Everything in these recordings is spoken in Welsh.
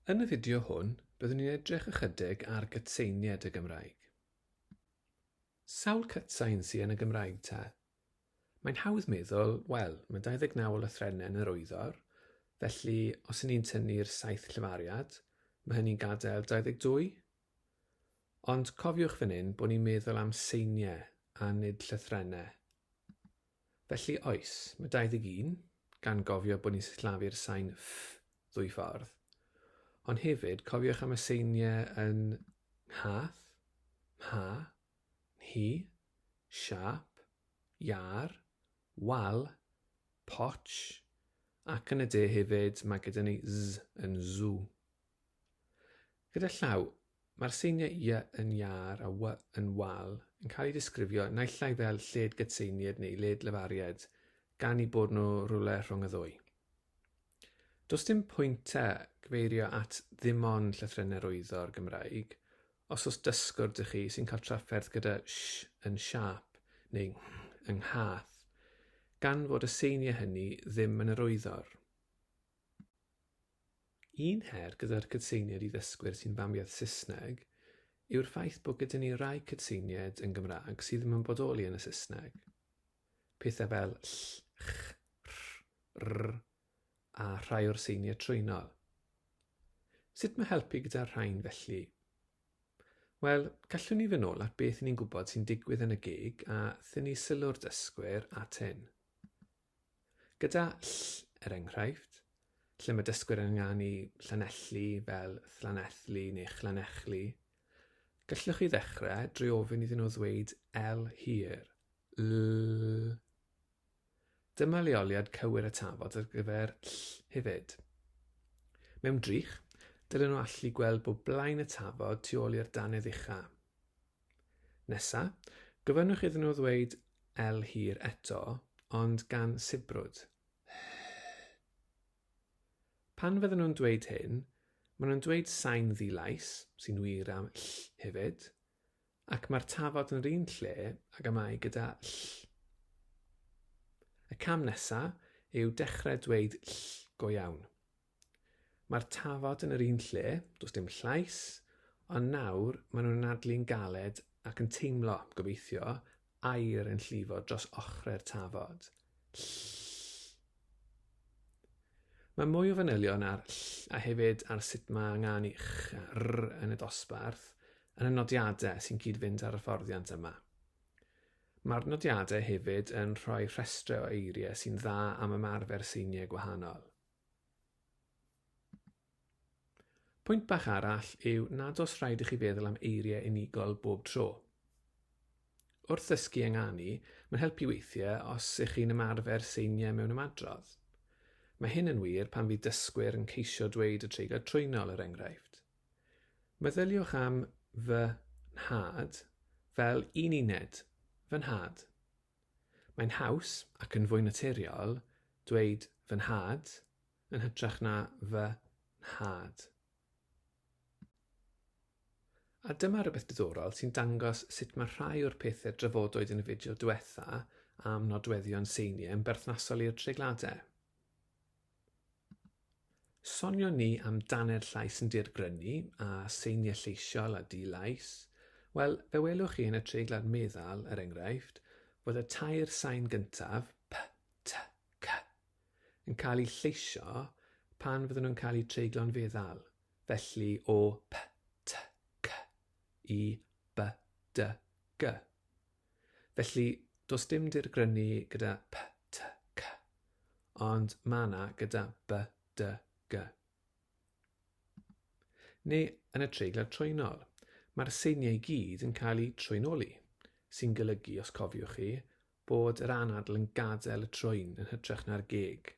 Yn y fideo hwn, byddwn ni'n edrych ychydig ar gytseinied y Gymraeg. Sawl cytsain sy yn y Gymraeg te? Mae'n hawdd meddwl, wel, mae 29 o lythrennau yn yr wyddor, felly os y'n ni'n tynnu'r saith llefariad, mae hynny'n gadael 22. Ond cofiwch fan hyn bod ni'n meddwl am seiniau a nid llythrennau. Felly, oes, mae 21, gan gofio bod ni'n sillafu'r sain 'ff' ddwy ffordd. Ond hefyd, cofiwch am y seiniau yn nghath, mha, nhi, siâp, iâr, wal, potsh, ac yn y de hefyd, mae gyda ni 'z' yn 'zw'. Gyda llaw, mae'r seiniau y yn iâr a y yn wal yn cael eu disgrifio naill ai fel lled gydseinied neu led lefaried, gan i bod nhw rywle rhwng y ddwy. Does dim pwynt te gyfeirio at ddim ond llythrennau rwyddo'r Gymraeg, os oes dysgwr dych chi sy'n cael trafferth gyda sh yn siâp neu ng yng nghath, gan fod y seiniau hynny ddim yn yr wyddor. Un her gyda'r cytseiniaid i ddysgwyr sy'n famiaith Saesneg yw'r ffaith bod gyda ni rai cytseiniaid yn Gymraeg sydd ddim yn bodoli yn y Saesneg. Pethau fel ll, ch, rh, rr a rhai o'r seiniau trwynol. Sut mae helpu gyda'r rhain felly? Wel, gallwn ni fyn' ôl at beth ni'n gwybod sy'n digwydd yn y gig a thynnu sylw'r dysgwyr at hyn. Gyda ll, er enghraifft, lle mae dysgwyr yn ynganu Llanelli fel Llanethli neu Chlannechli, gallwch chi ddechrau drwy ofyn iddyn nhw ddweud L hir, lll. Dyma leoliad cywir y tafod ar gyfer ll hefyd. Mewn drych, dylen nhw allu gweld bod blaen y tafod tu ôl i'r dannedd ucha'. Nesa, gofynnwch iddyn nhw ddweud L hir eto, ond gan sibrwd. Pan fydden nhw'n dweud hyn, maen nhw'n dweud sain ddilais, sy'n wir am ll hefyd, ac mae'r tafod yn yr un lle ag y mae gyda ll. Y cam nesa yw dechrau dweud ll go iawn. Mae'r tafod yn yr un lle, does dim llais, ond nawr maen nhw'n anadlu'n galed ac yn teimlo, gobeithio, aer yn llifo dros ochrau'r tafod. Ll. Mae mwy o fanylion ar ll a hefyd ar sut mae angen i ch a r yn y dosbarth yn y nodiadau sy'n cyd-fynd â'r hyfforddiant yma. Mae'r nodiadau hefyd yn rhoi rhestrau o eiriau sy'n dda am ymarfer seiniau gwahanol. Pwynt bach arall yw nad os rhaid i chi feddwl am eiriau unigol bob tro. Wrth ddysgu ynganu, mae'n helpu weithiau os ych chi'n ymarfer seiniau mewn ymadrodd. Mae hyn yn wir pan fydd dysgwyr yn ceisio dweud y treigl trwynol, er enghraifft. Meddyliwch am fy nhad fel un uned, fy nhad. Mae'n haws, ac yn fwy naturiol, dweud fy nhad yn hytrach na fy nhad. A dyma rywbeth diddorol sy'n dangos sut mae rhai o'r pethau drafodwyd yn y fideo diwetha' am nodweddion seiniau yn berthnasol i'r treigladau. Sonion ni am danedd llais yn dirgrynu, a seiniau lleisiol a di-lais. Wel, fe welwch chi yn y treiglad meddal, er enghraifft, fod y tair sain gyntaf, p, t, c, yn cael eu lleisio pan fydden nhw'n cael eu treiglo'n feddal, felly o p, t, c i b, d, g. Felly, does dim dirgrynu gyda p, t, c, ond mae yna gyda b, d, g. Neu yn y treiglau trwynol, mae'r seiniau i gyd yn cael eu trwynoli, sy'n golygu, os cofiwch chi, bod yr anadl yn gadael y trwyn yn hytrach na'r geg,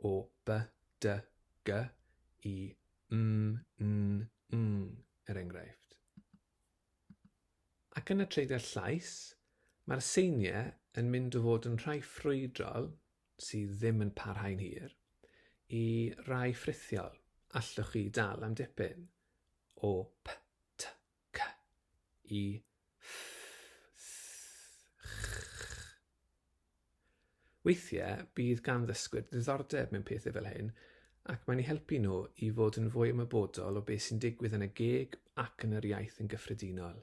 o b, d, g i m, n, ng, er enghraifft. Ac yn y treidr llais, mae'r seiniau yn mynd o fod yn rhai ffrwydrol, sydd ddim yn parhau'n hir, i rai ffrithiol, allwch chi dal am dipyn, o p, t, c i ff, th, ch. Weithiau bydd gan ddysgwyr ddiddordeb mewn pethau fel hyn ac mae'n eu helpu nhw i fod yn fwy ymwybodol o beth sy'n digwydd yn y geg ac yn yr iaith yn gyffredinol.